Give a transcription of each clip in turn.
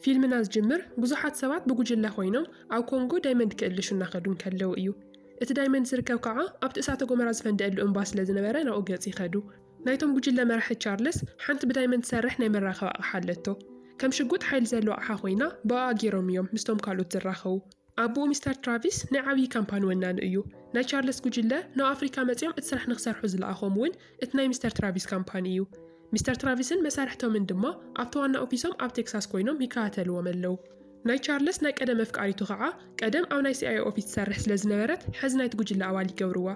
ፊልምና ዝጅምር ብዙሓት ሰባት ብጉጅለ ኮይኖም ኣብ ኮንጎ ዳይመንድ ክእልሹ እናኸዱ እንከለዉ እዩ። እቲ ዳይመንድ ዝርከብ ከኣ ኣብቲ እሳተ ጎመራ ዝፈንደኣሉ እምባ ስለ ዝነበረ ናብኡ ገጽ ይኸዱ። ናይቶም ጉጅለ መራሒ ቻርለስ ሓንቲ ብዳይመንድ ትሰርሕ ናይ መራኸቢ ኣቕሓ ኣለቶ። ከም ሽጉጥ ሓይሊ ዘለዋ ኣቕሓ ኮይና ብኣኣ ጌሮም እዮም ምስቶም ካልኦት ዝራኸቡ። ኣቡኡ ሚስተር ትራቪስ ናይ ዓብዪ ካምፓኒ ወናኒ እዩ። ናይ ቻርለስ ጉጅለ ናብ ኣፍሪካ መፂኦም እቲ ስራሕ ንክሰርሑ ዝለኣኾም እውን እቲ ናይ ሚስተር ትራቪስ ካምፓኒ እዩ። ሚስተር ትራቪስን መሳርሕቶምን ድማ ኣብቲ ዋና ኦፊሶም ኣብ ቴክሳስ ኮይኖም ይከታተልዎም ኣለው። ናይ ቻርለስ ናይ ቀደም ኣፍቃሪቱ ከዓ ቀደም ኣብ ናይ ሲኣይኤ ኦፊስ ትሰርሕ ስለዝነበረት ሐዚ ናይቲ ጉጅለ ኣባል ይገብርዋ።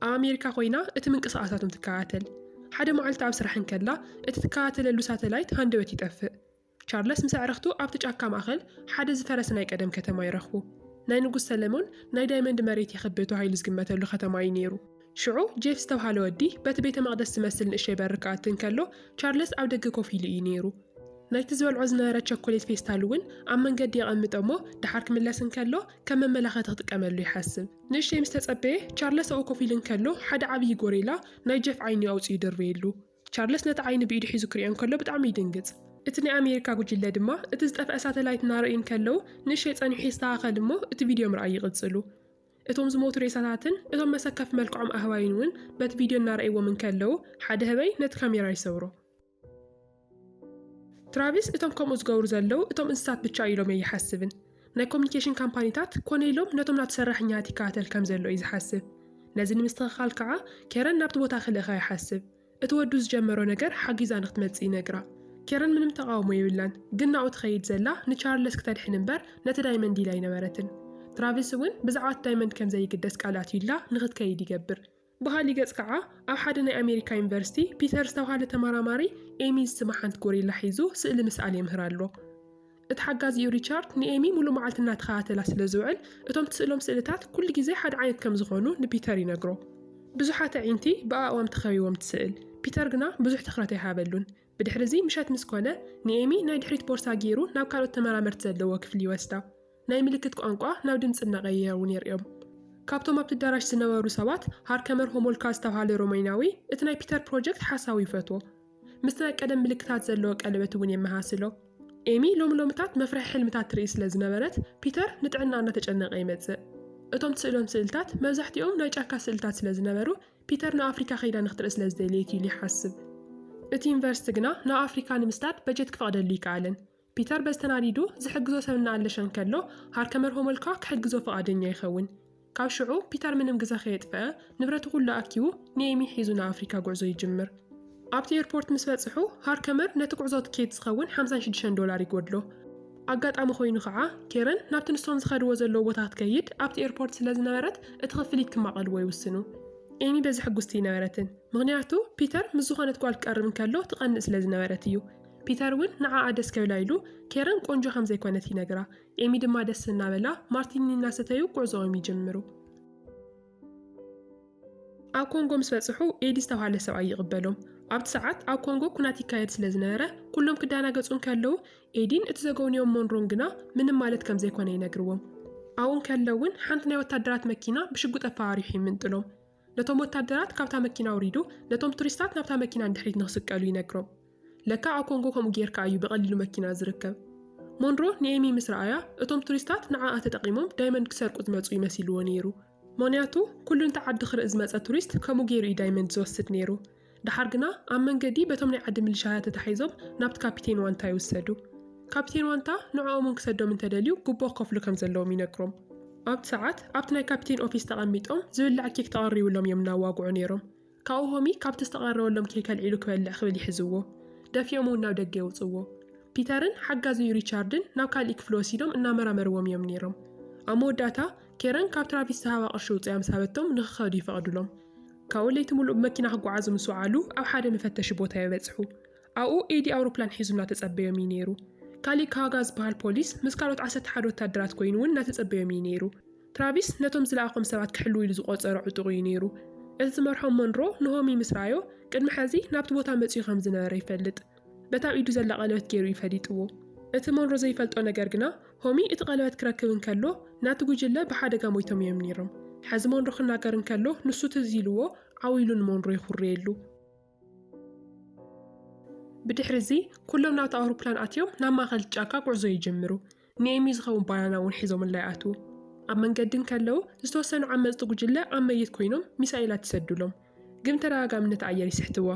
ኣብ ኣሜሪካ ኮይና እቲ ምንቅስቓሳቶም ትከታተል። ሓደ መዓልቲ ኣብ ስራሕ እንከላ እቲ ትከታተለሉ ሳተላይት ሃንደበት ይጠፍእ። ቻርለስ ምስ ኣዕርኽቱ ኣብቲ ጫካ ማእከል ሓደ ዝፈረሰ ናይ ቀደም ከተማ ይረኽቡ። ናይ ንጉስ ሰለሞን ናይ ዳይመንድ መሬት ይኽብእ ተባሂሉ ዝግመተሉ ከተማ እዩ ነይሩ። ሽዑ ጄፍ ዝተብሃለ ወዲ በቲ ቤተ መቕደስ ዝመስል ንእሽተይ በሪ ክኣቲ እንከሎ ቻርለስ ኣብ ደገ ኮፍ ኢሉ እዩ ነይሩ። ናይቲ ዝበልዖ ዝነበረ ቸኮሌት ፌስታል እውን ኣብ መንገዲ የቐምጦ እሞ ደሓር ክምለስ እንከሎ ከም መመላኸቲ ክጥቀመሉ ይሓስብ። ንእሽተይ ምስ ተጸበየ ቻርለስ ኣብኡ ኮፍ ኢሉ እንከሎ ሓደ ዓብዪ ጎሪላ ናይ ጄፍ ዓይኑ ኣውጺኡ ደርበየሉ። ቻርለስ ነቲ ዓይኑ ብኢዱ ሒዙ ክሪኦ እንከሎ ብጣዕሚ ይድንግጽ። እቲ ናይ ኣሜሪካ ጉጅለ ድማ እቲ ዝጠፍኣ ሳተላይት እናረእዩ እንከለዉ ንእሸይ ጸኒሑ ይስተኻኸል እሞ እቲ ቪድዮ ምርኣይ ይቕጽሉ። እቶም ዝሞቱ ሬሳታትን እቶም መሰከፊ መልክዖም ኣህባይን እውን በቲ ቪድዮ እናረእይዎም እንከለዉ ሓደ ህበይ ነቲ ካሜራ ይሰብሮ። ትራቪስ እቶም ከምኡ ዝገብሩ ዘለዉ እቶም እንስሳት ብቻ እዩ ኢሎም ኣይሓስብን። ናይ ኮሚኒኬሽን ካምፓኒታት ኮነ ኢሎም ነቶም ናቱ ሰራሕኛታት ይከታተል ከም ዘሎ እዩ ዝሓስብ። ነዚ ንምስትኽኻል ከኣ ኬረን ናብቲ ቦታ ክልእኻ ይሓስብ። እቲ ወዱ ዝጀመሮ ነገር ሓጊዛ ንክትመጽእ ይነግራ። ኬረን ምንም ተቓውሞ የብላን፣ ግን ናብኡ ትኸይድ ዘላ ንቻርለስ ክተድሕን እምበር ነቲ ዳይመንድ ኢላ ኣይነበረትን። ትራቪስ እውን ብዛዕባ እቲ ዳይመንድ ከም ዘይግደስ ቃል ኣትዩላ ንክትከይድ ይገብር። ብኻሊእ ገፅ ከዓ ኣብ ሓደ ናይ ኣሜሪካ ዩኒቨርሲቲ ፒተር ዝተብሃለ ተመራማሪ ኤሚ ዝስማ ሓንቲ ጎሪላ ሒዙ ስእሊ ምስኣል የምህር ኣሎ። እቲ ሓጋዚኡ ሪቻርድ ንኤሚ ሙሉእ መዓልቲ እናተኸታተላ ስለዝውዕል እቶም ትስእሎም ስእልታት ኩሉ ግዜ ሓደ ዓይነት ከምዝኾኑ ንፒተር ይነግሮ። ብዙሓት ኣዒንቲ ብኣእዋም ተኸቢቦም ትስእል፣ ፒተር ግና ብዙሕ ትኽረት ኣይሃበሉን። ብድሕሪ'ዚ ምሸት ምስ ኮነ፣ ንኤሚ ናይ ድሕሪት ቦርሳ ገይሩ ናብ ካልኦት ተመራመርቲ ዘለዎ ክፍሊ ይወስዳ። ናይ ምልክት ቋንቋ ናብ ድምጺ እናቐየረ'ውን የርእዮም። ካብቶም ኣብቲ ኣዳራሽ ዝነበሩ ሰባት፣ ሃርከመር ሆሞልካ ዝተብሃለ ሮሜንያዊ፣ እቲ ናይ ፒተር ፕሮጀክት ሓሳዊ ይፈትዎ። ምስቲ ናይ ቀደም ምልክታት ዘለዎ ቀለበት'ውን የመሃስሎ። ኤሚ ሎሚ ሎምታት መፍርሒ ሕልምታት ትርኢ ስለ ዝነበረት፣ ፒተር ንጥዕናኣ እናተጨነቐ ይመጽእ። እቶም ትስእሎም ስእልታት መብዛሕትኦም ናይ ጫካ ስእልታት ስለ ዝነበሩ፣ ፒተር ንኣፍሪካ ከይዳ ንክትርኢ ስለ ዝደለየት እዩ ኢሉ ይሓስብ። እቲ ዩኒቨርስቲ ግና ንኣፍሪካ ንምስዳድ በጀት ክፈቕደሉ ኣይከኣለን። ፒተር በዚ ተናዲዱ ዝሕግዞ ሰብ እናኣለሸ እንከሎ ሃርከመር ሆሞልካ ክሕግዞ ፍቓደኛ ይኸውን። ካብ ሽዑ ፒተር ምንም ግዘ ከየጥፈኣ ንብረቱ ኩሉ ኣኪቡ ንኤሚ ሒዙ ንኣፍሪካ ጉዕዞ ይጅምር። ኣብቲ ኤርፖርት ምስ በጽሑ፣ ሃርከመር ነቲ ጕዕዞ ትኬት ዝኸውን ሓምሳን ሽዱሽተን ዶላር ይጐድሎ። ኣጋጣሚ ኰይኑ ኸኣ፣ ኬረን ናብቲ ንሶም ዝኸድዎ ዘለዉ ቦታ ክትከይድ ኣብቲ ኤርፖርት ስለ ዝነበረት፣ እቲ ኽፍሊት ክማቐልዎ ይውስኑ። ኤሚ በዚ ሕጕስቲ ኣይነበረትን፣ ምኽንያቱ ፒተር ምስ ዝዀነት ጓል ክቀርብ እንከሎ ትቐንእ ስለ ዝነበረት እዩ። ፒተር እውን ንዓኣ ደስ ከብላ ኢሉ ኬረን ቈንጆ ከም ዘይኰነት ይነግራ። ኤሚ ድማ ደስ እናበላ ማርቲኒ እናሰተዩ ጕዕዞኦም ይጅምሩ። ኣብ ኮንጎ ምስ በጽሑ ኤዲ ዝተባሃለ ሰብኣይ ይቕበሎም። ኣብቲ ሰዓት ኣብ ኮንጎ ኩናት ይካየድ ስለ ዝነበረ ኩሎም ክዳናገጹ እንከለዉ ኤዲን እቲ ዘገውንዮም ሞንሮን ግና ምንም ማለት ከም ዘይኮነ ይነግርዎም። ኣብኡ እንከለውን ሓንቲ ናይ ወታደራት መኪና ብሽጉጥ ኣፈራሪሑ ይምንጥሎም። ነቶም ወታደራት ካብታ መኪና ኣውሪዱ ነቶም ቱሪስታት ናብታ መኪና ንድሕሪት ንክስቀሉ ይነግሮም። ለካ ኣብ ኮንጎ ከምኡ ጌርካ እዩ ብቐሊሉ መኪና ዝርከብ። ሞንሮ ንኤሚ ምስ ረኣያ፣ እቶም ቱሪስታት ንዓኣ ተጠቒሞም ዳይመንድ ክሰርቁ ዝመጹ እዩ መሲልዎ ነይሩ። ምኽንያቱ ኩሉ ነቲ ዓዲ ክርኢ ዝመጸ ቱሪስት ከምኡ ገይሩ እዩ ዳይመንድ ዝወስድ ነይሩ። ደሓር ግና ኣብ መንገዲ በቶም ናይ ዓዲ ምልሻያ ተታሒዞም ናብቲ ካፒቴን ዋንታ ይውሰዱ። ካፒቴን ዋንታ ንዕኦም እውን ክሰዶም እንተደልዩ ጉቦ ክኸፍሉ ከም ዘለዎም ይነግሮም። ኣብቲ ሰዓት ኣብቲ ናይ ካፒቴን ኦፊስ ተቐሚጦም ዝብላዕ ኬክ ተቐሪብሎም እዮም እናዋግዑ ነይሮም። ካብኡ ሆሚ ካብቲ ዝተቐረበሎም ኬክ ኣልዒሉ ክበልዕ ክብል ይሕዝዎ። ደፊኦም እውን ናብ ደገ የውጽእዎ። ፒተርን ሓጋዚኡ ሪቻርድን ናብ ካልእይ ክፍሊ ወሲዶም እናመራመርዎም እዮም ነይሮም። ኣብ መወዳእታ፣ ኬረን ካብ ትራቪስ ዝሃባ ቅርሺ ውጽያ ምስ ሃበቶም ንኽኸዱ ይፈቕዱሎም። ካብኡ ለይቲ ምሉእ ብመኪና ክጓዓዙ ምስ ወዓሉ ኣብ ሓደ መፈተሺ ቦታ የበጽሑ። ኣብኡ ኤዲ ኣውሮፕላን ሒዙ እናተጸበዮም እዩ ነይሩ። ካልእ ካሃጋ ዝበሃል ፖሊስ ምስ ካልኦት ዓሰርተ ሓደ ወታደራት ኮይኑ እውን እናተጸበዮም እዩ ነይሩ። ትራቪስ ነቶም ዝለኣኾም ሰባት ክሕሉ ኢሉ ዝቖጸሮ ዕጡቕ እዩ ነይሩ። እቲ ዝመርሖም ሞንሮ ንሆሚ ምስ ረኣዮ፣ ቅድሚ ሕዚ ናብቲ ቦታ መጺኡ ከም ዝነበረ ይፈልጥ። በታ ኣብ ኢዱ ዘላ ቀለበት ገይሩ እዩ ፈሊጥዎ። እቲ ሞንሮ ዘይፈልጦ ነገር ግና፣ ሆሚ እቲ ቀለበት ክረክብ እንከሎ ናቲ ጕጅለ ብሓደጋ ሞይቶም እዮም ነይሮም። ሕዚ ሞንሮ ክናገር እንከሎ ንሱ ትዝ ኢልዎ ዓው ኢሉ ንሞንሮ ይዅርየሉ። ብድሕሪ እዚ ኩሎም ናብቲ ኣውሮፕላን ኣትዮም ናብ ማእኸል ጫካ ጉዕዞ ይጅምሩ። ንኤሚ ዝኸውን ባናና እውን ሒዞምላ ይኣትዉ። ኣብ መንገዲ እንከለዉ ዝተወሰኑ ዓመፅቲ ጉጅለ ኣብ መይት ኮይኖም ሚሳኤላት ይሰዱሎም፣ ግን ተደጋጋምነት ኣየር ይስሕትዋ።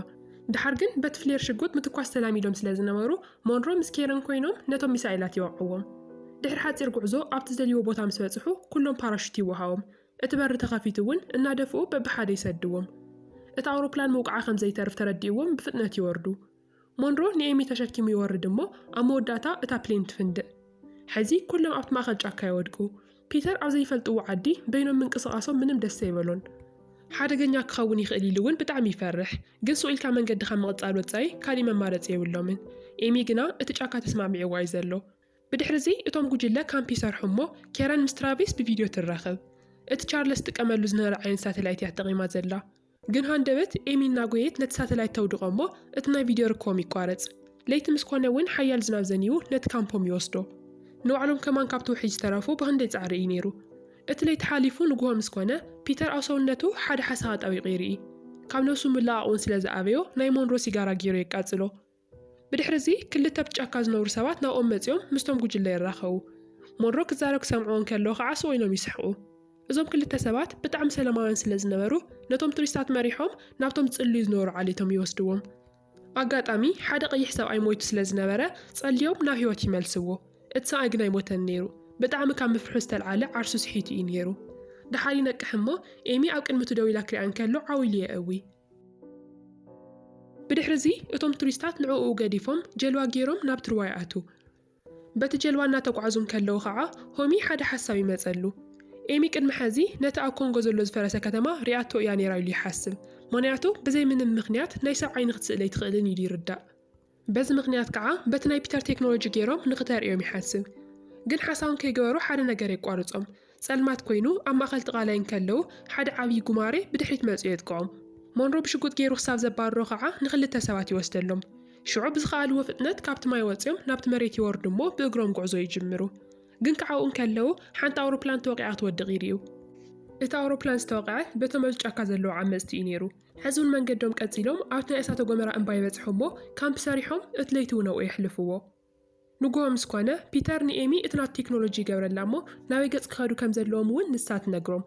ድሓር ግን በቲ ፍሌር ሽጉጥ ምትኳስ ተላሚዶም ስለ ዝነበሩ ሞንሮ ምስ ኬረን ኮይኖም ነቶም ሚሳኤላት ይወቕዕዎም። ድሕሪ ሓፂር ጉዕዞ ኣብቲ ዝደልይዎ ቦታ ምስ በፅሑ ኩሎም ፓራሹት ይወሃቦም። እቲ በሪ ተኸፊቱ እውን እናደፍኡ በብሓደ ይሰድዎም። እታ ኣውሮፕላን ምውቅዓ ከም ዘይተርፍ ተረዲእዎም ብፍጥነት ይወርዱ። ሞንሮ ንኤሚ ተሸኪሙ ይወርድ እሞ ኣብ መወዳእታ እታ ፕሌን ትፍንድእ። ሕዚ ኩሎም ኣብቲ ማእከል ጫካ ይወድቁ። ፒተር ኣብ ዘይፈልጥዎ ዓዲ በይኖም ምንቅስቓሶም ምንም ደስ ኣይበሎን። ሓደገኛ ክኸውን ይኽእል ኢሉ እውን ብጣዕሚ ይፈርሕ። ግን ሱቕ ኢልካ መንገዲ ካብ ምቕጻል ወጻኢ ካሊእ መማረጺ የብሎምን። ኤሚ ግና እቲ ጫካ ተስማዕሚዕዎ ኣዩ ዘሎ። ብድሕሪ'ዚ እቶም ጉጅለ ካምፕ ይሰርሑ እሞ ኬረን ምስ ትራቪስ ብቪድዮ ትራኸብ። እቲ ቻርለስ ዝጥቀመሉ ዝነበረ ዓይነት ሳተላይት እያ ተጠቒማ ዘላ። ግን ሃንደበት ኤሚ እናጎየየት ነቲ ሳተላይት ተውድቖ እሞ እቲ ናይ ቪድዮ ርክቦም ይቋረጽ። ለይቲ ምስ ኮነ እውን ሓያል ዝናብ ዘኒቡ ነቲ ካምፖም ይወስዶ። ንባዕሎም ከማን ካብቲ ውሕጅ ዝተረፉ ብኽንደይ ጻዕሪ እዩ ነይሩ። እቲ ለይቲ ሓሊፉ ንግሆ ምስ ኮነ ፒተር ኣብ ሰውነቱ ሓደ ሓሳኻ ኣጣቢቑ ይርኢ። ካብ ነብሱ ምልቓቕ እውን ስለ ዝኣበዮ ናይ ሞንሮ ሲጋራ ገይሩ የቃጽሎ። ብድሕሪ'ዚ ክልተ ኣብቲ ጫካ ዝነብሩ ሰባት ናብኦም መጺኦም ምስቶም ጉጅለ ይራኸቡ። ሞንሮ ክዛረብ ክሰምዕዎ እንከለዉ ኸኣ ስቕ ኢሎም ይስሕቑ። እዞም ክልተ ሰባት ብጣዕሚ ሰለማውያን ስለ ዝነበሩ ነቶም ቱሪስታት መሪሖም ናብቶም ዝጽልዩ ዝነበሩ ዓሌቶም ይወስድዎም። ኣጋጣሚ ሓደ ቀይሕ ሰብኣይ ሞይቱ ስለ ዝነበረ ጸልዮም ናብ ህይወት ይመልስዎ። እቲ ሰብኣይ ግን ኣይሞተን ነይሩ። ብጣዕሚ ካብ ምፍርሑ ዝተልዓለ ዓርሱ ስሒቱ እዩ ነይሩ። ደሓር ይነቅሕ እሞ ኤሚ ኣብ ቅድሚቱ ደው ኢላ ክሪኣ እንከሎ ዓው ኢሉ የእዊ። ብድሕሪ እዚ እቶም ቱሪስታት ንዕኡ ገዲፎም ጀልዋ ገይሮም ናብ ትርዋይ ኣትው። በቲ ጀልባ እናተጓዕዙ እንከለዉ ኸዓ ሆሚ ሓደ ሓሳብ ይመፀሉ። ኤሚ ቅድሚ ሐዚ ነቲ ኣብ ኮንጎ ዘሎ ዝፈረሰ ከተማ ሪኣቶ እያ ነይራ ኢሉ ይሓስብ። ምኽንያቱ ብዘይ ምንም ምኽንያት ናይ ሰብ ዓይኒ ክትስእል ኣይትኽእልን ኢሉ ይርዳእ። በዚ ምኽንያት ከኣ በቲ ናይ ፒተር ቴክኖሎጂ ገይሮም ንኽተርእዮም ይሓስብ። ግን ሓሳቦም ከይገበሩ ሓደ ነገር የቋርጾም። ጸልማት ኮይኑ ኣብ ማእከል እቲ ቃላይ እንከለዉ ሓደ ዓብዪ ጉማሬ ብድሕሪት መጺኡ የጥቅዖም። ሞንሮ ብሽጉጥ ገይሩ ክሳብ ዘባርሮ ከኣ ንኽልተ ሰባት ይወስደሎም። ሽዑ ብዝኸኣልዎ ፍጥነት ካብቲ ማይ ወጺኦም ናብቲ መሬት ይወርዱ እሞ ብእግሮም ጉዕዞ ይጅምሩ። ግን ከኣ ኣብኡ እንከለዉ ሓንቲ ኣውሮፕላን ተወቒዓ ክትወድቕ ይርእዩ። እቲ ኣውሮፕላን ዝተወቕዐ በቶም ኣብዚ ጫካ ዘለዉ ዓመጽቲ እዩ ነይሩ። ሕዚ ውን መንገዶም ቀጺሎም ኣብቲ ናይ እሳተ ጎመራ እምባ ይበጽሑ እሞ ካምፕ ሰሪሖም እቲ ለይቲ ውን ኣብኡ የሕልፍዎ። ንጉሆ ምስ ኮነ ፒተር ንኤሚ እቲ ናቱ ቴክኖሎጂ ይገብረላ እሞ ናበይ ገጽ ክኸዱ ከም ዘለዎም ውን ንሳ ትነግሮም።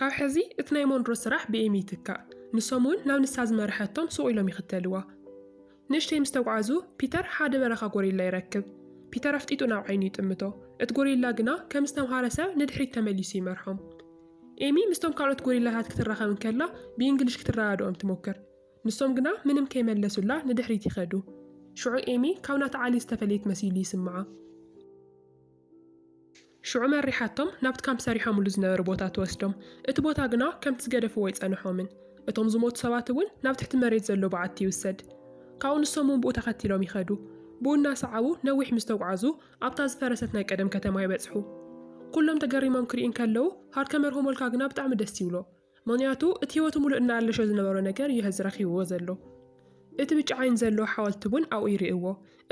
ካብ ሕዚ እቲ ናይ ሞንሮ ስራሕ ብኤሚ ይትካእ። ንሶም ውን ናብ ንሳ ዝመረሐቶም ሱቕ ኢሎም ይኽተልዋ። ንእሽተይ ምስ ተጕዓዙ፣ ፒተር ሓደ በረኻ ጐሪላ ይረክብ። ፒተር ኣፍጢጡ ናብ ዓይኑ ይጥምቶ፣ እቲ ጐሪላ ግና ከም ዝተምሃረ ሰብ ንድሕሪት ተመሊሱ ይመርሖም። ኤሚ ምስቶም ካልኦት ጐሪላታት ክትራኸብ እንከላ ብእንግሊሽ ክትረዳድኦም ትሞክር፣ ንሶም ግና ምንም ከይመለሱላ ንድሕሪት ይኸዱ። ሽዑ ኤሚ ካብ ናታ ዓሌት ዝተፈለየት መሲሉ ይስምዓ። ሽዑ መሪሓቶም ናብቲ ካምፕ ሰሪሖምሉ ዝነበሩ ቦታ ትወስዶም። እቲ ቦታ ግና ከምቲ ዝገደፍዎ ኣይጸንሖምን። እቶም ዝሞቱ ሰባት እውን ናብ ትሕቲ መሬት ዘሎ በዓቲ ይውሰድ። ካብኡ ንሶም እውን ብኡ ተኸቲሎም ይኸዱ። ብኡ እናሰዓቡ ነዊሕ ምስ ተጉዓዙ ኣብታ ዝፈረሰት ናይ ቀደም ከተማ ይበጽሑ። ኩሎም ተገሪሞም ክሪኡ እንከለዉ ሃርከመር ሆሞልካ ግና ብጣዕሚ ደስ ይብሎ። ምኽንያቱ እቲ ህይወቱ ምሉእ እናኣለሾ ዝነበሮ ነገር እዩ ሐዚ ረኺብዎ ዘሎ። እቲ ብጫ ዓይኒ ዘለዎ ሓወልቲ እውን ኣብኡ ይርእይዎ።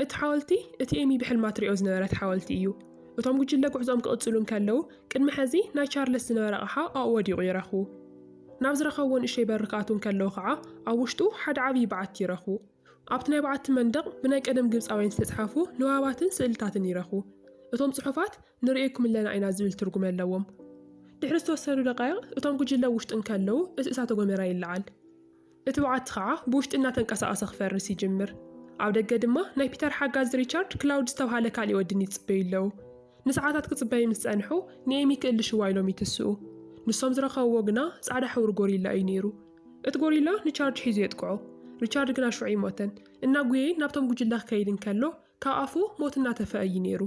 እቲ ሓወልቲ እቲ ኤሚ ብሕልማ ትሪኦ ዝነበረት ሓወልቲ እዩ። እቶም ጉጅለ ጉዕዞኦም ክቕፅሉ እንከለዉ ቅድሚ ሐዚ ናይ ቻርለስ ዝነበረ ኣቕሓ ኣብኡ ወዲቑ ይረኽቡ። ናብ ዝረኸብዎ ንእሽተይ በሪ ክኣትዉ እንከለዉ ከዓ ኣብ ውሽጡ ሓደ ዓብዪ በዓቲ ይረኽቡ። ኣብቲ ናይ በዓቲ መንደቕ ብናይ ቀደም ግብፃውያን ዝተፅሓፉ ንባባትን ስእልታትን ይረኽቡ። እቶም ፅሑፋት ንርእየኩም ኣለና ኢና ዝብል ትርጉም ኣለዎም። ድሕሪ ዝተወሰኑ ደቓይቕ እቶም ጉጅለ ኣብ ውሽጢ እንከለዉ እቲ እሳተ ጎመራ ይለዓል። እቲ በዓቲ ኸዓ ብውሽጢ እናተንቀሳቐሰ ክፈርስ ይጅምር። ኣብ ደገ ድማ ናይ ፒተር ሓጋዚ ሪቻርድ ክላውድ ዝተብሃለ ካሊእ ወዲ ኒት ይጽበዩ ኣለዉ። ንሰዓታት ክጽበዩ ምስ ጸንሑ ንኤሚ ክእልሽዋ ኢሎም ይትስኡ። ንሶም ዝረኸብዎ ግና ጻዕዳ ሕብሪ ጎሪላ እዩ ነይሩ። እቲ ጎሪላ ንቻርጅ ሒዙ የጥቅዖ። ሪቻርድ ግና ሽዑ ኣይሞተን። እናጉየየ ናብቶም ጉጅለ ክከይድ እንከሎ ካብ ኣፉ ሞት እናተፍዐ እዩ ነይሩ።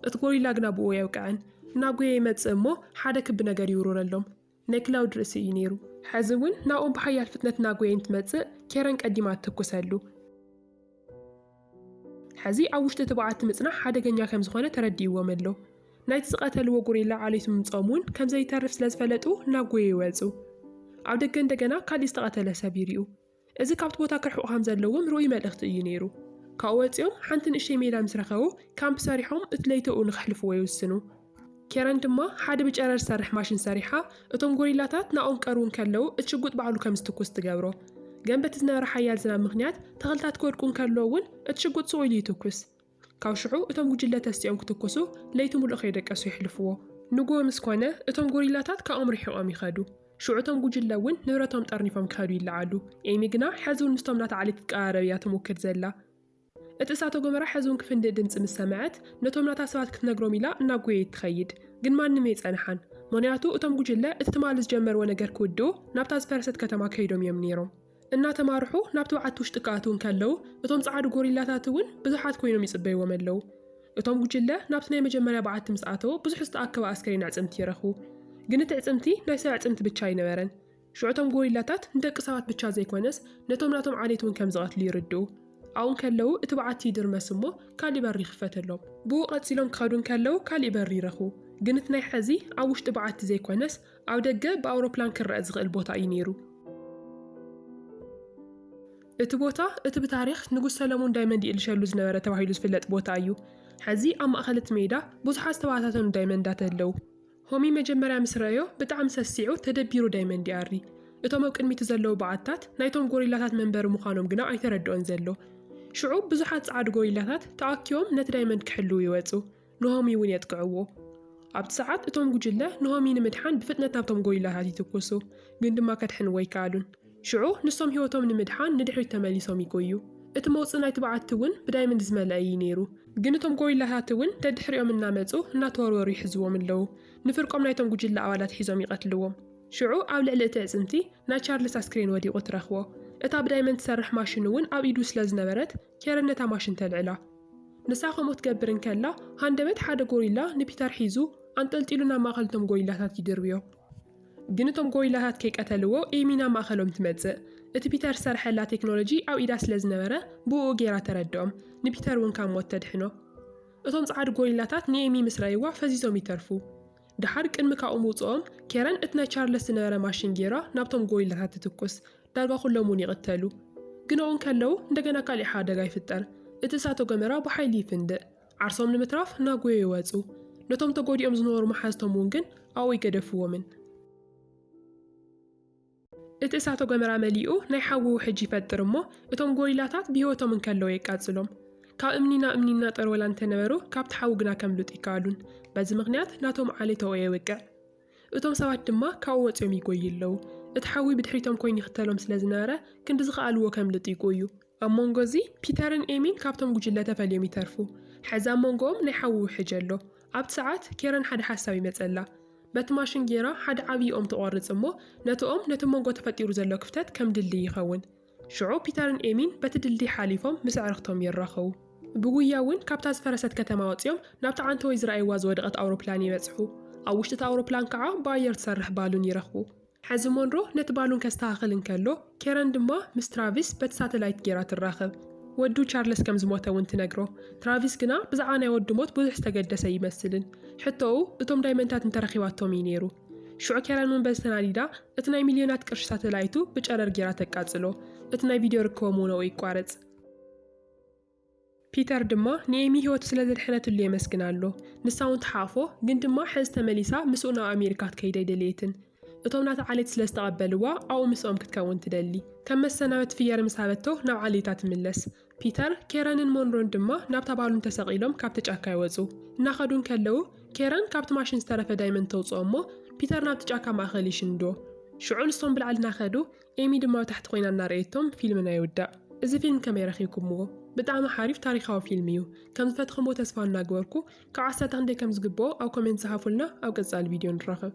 እቲ ጎሪላ ግና ብእኡ ኣየውቅዐን። እናጎየ ይመጽእ እሞ ሓደ ክቢ ነገር ይውርውረሎም። ናይ ክላውድ ርእሲ እዩ ነይሩ። ሕዚ እውን ናብኦም ብሓያል ፍጥነት እናጎየ እንትመጽእ ኬረን ቀዲማ ትትኩሰሉ። ሕዚ ኣብ ውሽጢ እቲ በዓቲ ምጽናሕ ሓደገኛ ከም ዝዀነ ተረዲእዎም ኣሎ። ናይቲ ዝቐተልዎ ጎሪላ ዓሌቱ ምምጽኦም እውን ከም ዘይተርፍ ስለ ዝፈለጡ እናጎየ ይወጹ። ኣብ ደገ እንደገና ካልእ ዝተቐተለ ሰብ ይሪኡ። እዚ ካብቲ ቦታ ክርሕቁ ከም ዘለዎም ርኡይ መልእኽቲ እዩ ነይሩ። ካብኡ ወጺኦም ሓንቲ ንእሽተይ ሜዳ ምስ ረኸቡ፣ ካምፕ ሰሪሖም እቲ ለይተኡ ንኽሕልፍዎ ይውስኑ። ኬረን ድማ ሓደ ብጨረር ዝሰርሕ ማሽን ሰሪሓ፣ እቶም ጎሪላታት ናብኦም ክቀርቡ እንከለዉ እቲ ሽጉጥ ባዕሉ ከም ዝትኩስ ትገብሮ። ገን በቲ ዝነበረ ሓያል ዝናብ ምኽንያት ተኽልታት ክወድቁ እንከለዉ እውን እቲ ሽጉጥ ስቕ ኢሉ ይትኩስ። ካብ ሽዑ እቶም ጉጅለ ተሲኦም ክትኩሱ ለይቲ ምሉእ ከይደቀሱ የሕልፍዎ። ንግሆ ምስ ኮነ እቶም ጎሪላታት ካብኦም ርሒቖም ይኸዱ። ሽዑ እቶም ጉጅለ እውን ንብረቶም ጠርኒፎም ክኸዱ ይለዓሉ። ኤሚ ግና ሕዚ እውን ምስቶም ናታ ዓሌት ክትቀራረብ እያ ትሙክር ዘላ። እቲ እሳተ ጎመራ ሕዚ እውን ክፍንድእ ድምጺ ምስ ሰምዐት ነቶም ናታ ሰባት ክትነግሮም ኢላ እናጎየየት ትኸይድ። ግን ማንም የይጸንሓን። ምኽንያቱ እቶም ጉጅለ እቲ ትማሊ ዝጀመርዎ ነገር ክውድኡ ናብታ ዝፈረሰት ከተማ ከይዶም እዮም ነይሮም። እናተማርሑ ናብቲ በዓቲ ውሽጢ ክኣትዉ እንከለዉ፣ እቶም ጸዓዱ ጎሪላታት እውን ብዙሓት ኰይኖም ይጽበይዎም ኣለዉ። እቶም ጕጅለ ናብቲ ናይ መጀመርያ በዓቲ ምስ ኣተወ፣ ብዙሕ ዝተኣከበ ኣስከሬን ኣዕጽምቲ ረኽቡ። ግን እቲ ኣዕጽምቲ ናይ ሰብ ኣዕጽምቲ ብቻ ኣይነበረን። ሽዑ እቶም ጎሪላታት ንደቂ ሰባት ብቻ ዘይኰነስ ነቶም ናቶም ዓሌት እውን ከም ዝቐትሉ ይርድኡ። ኣብኡ እንከለዉ እቲ በዓቲ ይድርመስ እሞ ካልእ በሪ ይኽፈተሎም። ብኡ ቀጺሎም ክኸዱ እንከለዉ ካልእ በሪ ይረኽቡ። ግን እቲ ናይ ሕዚ ኣብ ውሽጢ በዓቲ ዘይኰነስ ኣብ ደገ ብኣውሮፕላን ክረኣ ዝኽእል ቦታ እዩ ነይሩ። እቲ ቦታ እቲ ብታሪኽ ንጉስ ሰለሙን ዳይመንድ ይእልሸሉ ዝነበረ ተባሂሉ ዝፍለጥ ቦታ እዩ። ሐዚ ኣብ ማእኸል እቲ ሜዳ ብዙሓት ዝተበታተኑ ዳይመንዳት ኣለው። ሆሚ መጀመርያ ምስ ረኣዮ ብጣዕሚ ሰሲዑ ተደቢሩ ዳይመንድ ይኣሪ። እቶም ኣብ ቅድሚቱ ዘለው በዓትታት ናይቶም ጎሪላታት መንበሪ ምዃኖም ግና ኣይተረድኦን ዘሎ። ሽዑ ብዙሓት ጸዓዱ ጎሪላታት ተኣኪቦም ነቲ ዳይመንድ ክሕልው ይወጹ። ኑሃሚ እውን የጥቅዕዎ። ኣብቲ ሰዓት እቶም ጉጅለ ኑሃሚ ንምድሓን ብፍጥነት ናብቶም ጎሪላታት ይትኩሱ፣ ግን ድማ ከድሕንዎ ኣይከኣሉን። ሽዑ ንሶም ህይወቶም ንምድሓን ንድሕሪት ተመሊሶም ይጎዩ። እቲ መውጽኢ ናይቲ በዓቲ እውን ብዳይመንድ ዝመልአ ኢዩ ነይሩ። ግን እቶም ጎሪላታት እውን ደድሕሪኦም እናመጹ እናተወርወሩ ይሕዝዎም ኣለዉ። ንፍርቆም ናይቶም ጉጅለ ኣባላት ሒዞም ይቐትልዎም። ሽዑ ኣብ ልዕሊ እቲ ኣዕጽምቲ ናይ ቻርልስ ኣስክሬን ወዲቑ ትረኽቦ። እታ ብዳይመንድ ትሰርሕ ማሽን እውን ኣብ ኢዱ ስለዝነበረት ኬረን ነታ ማሽን ተልዕላ። ንሳ ከምኡ ትገብር እንከላ፣ ሃንደበት ሓደ ጎሪላ ንፒተር ሒዙ ኣንጠልጢሉ ናብ ማእከል እቶም ጎሪላታት ይድርብዮ። ግን እቶም ጎሪላታት ከይቀተልዎ ኤሚ ናብ ማእከሎም ትመጽእ። እቲ ፒተር ዝሰርሐላ ቴክኖሎጂ ኣብ ኢዳ ስለ ዝነበረ ብእኡ ገይራ ተረድኦም። ንፒተር እውን ካብ ሞት ተድሕኖ። እቶም ጸዓዱ ጎሪላታት ንኤሚ ምስ ረኣይዋ ፈዚዞም ይተርፉ። ደሓር ቅድሚ ካብኡ ምውጽኦም ኬረን እቲ ናይ ቻርለስ ዝነበረ ማሽን ጌራ ናብቶም ጎሪላታት ትትኩስ። ዳርጋ ኩሎም እውን ይቕተሉ። ግን ኣብኡ እንከለዉ እንደገና ካሊእ ሓደጋ ይፍጠር። እቲ እሳተ ጎመራ ብሓይሊ ይፍንድእ። ዓርሶም ንምትራፍ ናጎዮ ይወጹ። ነቶም ተጎዲኦም ዝነበሩ መሓዝቶም እውን ግን ኣብኡ ኣይገደፍዎምን። እቲ እሳተ ጎመራ መሊኡ ናይ ሓዊ ውሕጅ ይፈጥር እሞ እቶም ጎሪላታት ብህይወቶም እንከለዉ የቃጽሎም። ካብ እምኒ ናብ እምኒ እናጠርወላ እንተነበሩ ካብቲ ሓዊ ግና ከምልጡ ይከኣሉን። በዚ ምኽንያት ናቶም ዓሌታኦ የውቅዕ። እቶም ሰባት ድማ ካብኡ ወጺኦም ይጎዩ ኣለዉ። እቲ ሓዊ ብድሕሪቶም ኮይኑ ይኽተሎም ስለ ዝነበረ ክንዲ ዝኸኣልዎ ከምልጡ ይጎዩ። ኣብ መንጎ እዚ ፒተርን ኤሚን ካብቶም ጉጅለ ተፈልዮም ይተርፉ። ሕዚ ኣብ መንጎኦም ናይ ሓዊ ውሕጅ ኣሎ። ኣብቲ ሰዓት ኬረን ሓደ ሓሳብ ይመጸላ። በቲ ማሽን ጌራ ሓደ ዓብዪ ኦም ትቖርጽ እሞ ነቲ ኦም ነቲ መንጎ ተፈጢሩ ዘሎ ክፍተት ከም ድልድይ ይኸውን። ሽዑ ፒተርን ኤሚን በቲ ድልድይ ሓሊፎም ምስ ኣዕርኽቶም ይራኸቡ። ብጉያ እውን ካብታ ዝፈረሰት ከተማ ወጺኦም ናብታ ዓንተወይ ዝረኣይዋ ዝወደቐት ኣውሮፕላን ይበጽሑ። ኣብ ውሽጢ እታ ኣውሮፕላን ከዓ ብኣየር ትሰርሕ ባሉን ይረኽቡ። ሕዚ ሞንሮ ነቲ ባሉን ከስተኻኽል እንከሎ፣ ኬረን ድማ ምስ ትራቪስ በቲ ሳተላይት ገይራ ትራኸብ። ወዱ ቻርለስ ከም ዝሞተ እውን ትነግሮ። ትራቪስ ግና ብዛዕባ ናይ ወዱ ሞት ብዙሕ ዝተገደሰ ኣይመስልን። ሕቶኡ እቶም ዳይመንድታት እንተ ረኺባቶም እዩ ነይሩ። ሽዑ ኬረን እውን በዚ ተናዲዳ እቲ ናይ ሚልዮናት ቅርሺ ሳተላይቱ ብጨረር ገይራ ተቃጽሎ። እቲ ናይ ቪድዮ ርክቦም እውን ኣብኡ ይቋረጽ። ፒተር ድማ ንኤሚ ህይወቱ ስለ ዘድሐነትሉ የመስግና ኣሎ። ንሳ እውን ትሓቕፎ፣ ግን ድማ ሕዚ ተመሊሳ ምስኡ ናብ ኣሜሪካ ክትከይድ ኣይደለየትን። እቶም ናታ ዓሌት ስለ ዝተቐበልዋ ኣብኡ ምስኦም ክትከውን ትደሊ። ከም መሰናበቲ ፍየር ምስ ሃበቶ ናብ ዓሌታ ትምለስ። ፒተር፣ ኬረንን ሞንሮን ድማ ናብታ ባሉን ተሰቒሎም ካብቲ ጫካ ይወጹ። እናኸዱ እንከለዉ ኬረን ካብቲ ማሽን ዝተረፈ ዳይመንድ ተውጽኦ እሞ ፒተር ናብቲ ጫካ ማእከል ይሽንዶ። ሽዑ ንሶም ብላዕሊ እናኸዱ ኤሚ ድማ ኣብ ታሕቲ ኮይና እናረኣየቶም ፊልም ናይ ውዳእ እዚ ፊልም ከመይ ረኪብኩምዎ ብጣዕሚ ሓሪፍ ታሪካዊ ፊልም እዩ ከም ዝፈትክምዎ ተስፋ እናግበርኩ ካብ ዓሰርተ ክንደይ ከም ዝግብኦ ኣብ ኮሜንት ጽሓፉልና ኣብ ቀጻሊ ቪድዮ ንራኸብ